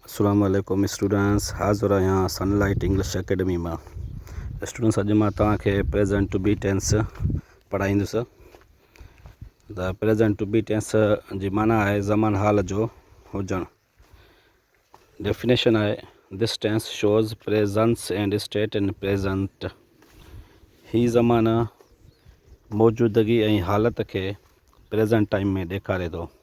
اسلام عليڪم اسٽوڊنٽس حاضر آهيان سن لائيٽ انگلش اڪيڊمي مان اسٽوڊنٽس اڄ مان توهان کي پريزنٽ ٽو بي ٽينس پڙهائيندس ته پريزنٽ ٽو بي ٽينس جي معنی آهي زمان حال جو هجڻ ڊيفينيشن آهي this tense shows presence and state in present هي زمانه موجودگي ۽ حالت کي پريزنٽ ٽائيم ۾ ڏيکاري ٿو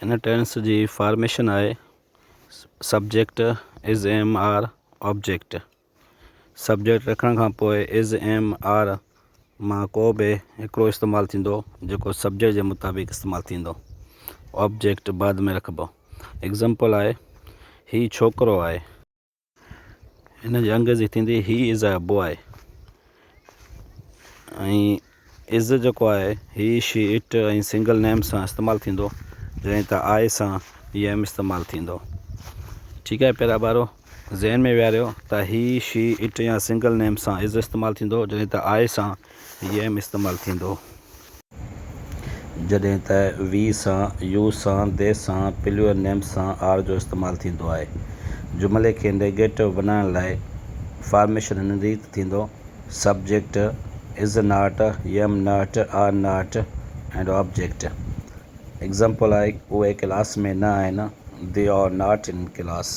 هن ٽينس جي فارميشن آهي، subject is am are object. Subject رکڻ کان پوء از ايم آر مان ڪو به هڪڙو استعمال ٿيندو جيڪو سبجيڪٽ جي مطابق استعمال ٿيندو. آبجيڪٽ بعد ۾ رکبو. ايگزامپل آهي، هي ڇوڪرو آهي. هن جي انگريزي ٿيندي هي از اي بوء ۽ از جيڪو آهي he she it ۽ single name سان استعمال ٿيندو جڏهن ته آء سان هي ايم استعمال ٿيندو ٺيڪ آهي پيارا ٻارو ذهن ۾ ويهاريو ته هي شي اٽ يا سنگل نيم سان از استعمال ٿيندو جڏهن ته آء سان يم استعمال ٿيندو. جڏهن ته وي سان، يو سان، دي سان، پليور نيم سان آر جو استعمال ٿيندو آهي. جملي کي نيگيٽو بنائڻ لاء فارميشن هن ريت ٿيندو، subject, is not, am not, are not and object. Example آهي، اهي ڪلاس ۾ نه آهن، they are not in class.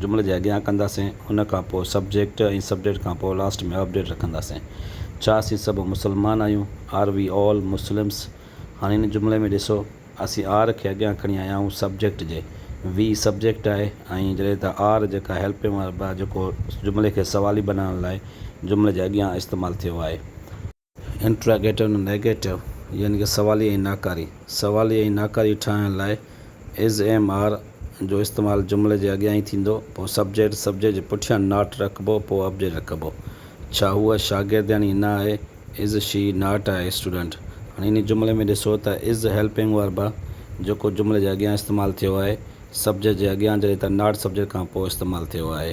جملي جي اڳيان ڪنداسين ان کان پوء سبجيڪٽ ۽ سبجيڪٽ کان پوء لاسٽ ۾ آبجيڪٽ رکنداسين. ڇا اسين سڀ مسلمان آهيون؟ Are we all Muslims؟ هاڻي هن جملي ۾ ڏسو اسين آر کي اڳيان کڻي آيا آهيون سبجيڪٽ جي وي سبجيڪٽ آهي ۽ جڏهن ته آر جيڪا هيلپنگ ورب آهي جيڪو جملي کي سوالي بنائڻ لاء جملي جي اڳيان استعمال ٿيو آهي. انٽراگيٽو ۽ نيگيٽو يعني ڪه سوالي ۽ ناڪاري سوالي ۽ ناڪاري ٺاهڻ لاء از ايم آر جو استعمال جملي جي اڳيان ئي ٿيندو پوء سبجيڪٽ سبجيڪٽ جي پٺيان ناٽ رکبو پوء آبجيڪٽ رکبو ڇا هوء شاگردياڻي نه آهي is she not a student هاڻي انهي جملي ۾ ڏسو ته از هيلپنگ هر به جيڪو جملي جي اڳيان استعمال ٿيو آهي سبجيڪٽ جي اڳيان جڏهن ته ناٽ سبجيڪٽ کان پوء استعمال ٿيو آهي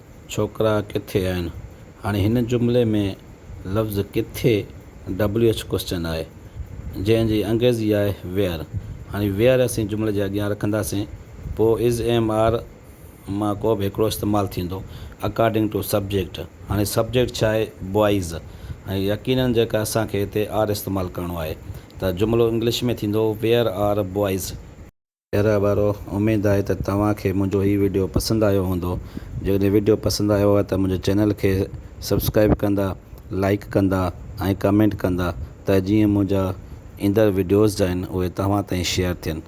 ڇوڪرا ڪٿي آهن؟ هاڻي هن جملي ۾ لفظ ڪٿي WH ڪوئسچن آهي جنهن جي انگريزي آهي Where هاڻي Where اسين جملي جي اڳيان رکنداسين پوء Is Am Are مان ڪو به هڪڙو استعمال ٿيندو According to Subject هاڻي سبجيڪٽ ڇا آهي Boys هاڻي يقينن جيڪا اسان کي هتي Are استعمال ڪرڻو آهي ته جملو انگلش ۾ ٿيندو Where Are Boys؟ خيريٰ وارو، اميد آهي ته توهان کي منهنجو هي وڊيو پسند آيو هوندو، جيڪڏهن وڊيو پسند آيو آهي ته منهنجي چينل کي سبسڪرائيب ڪندا، لائيڪ ڪندا ۽ ڪمينٽ ڪندا ته جيئن منهنجا ايندڙ وڊيوز جا آهن اهي توهان تائين شيئر ٿين.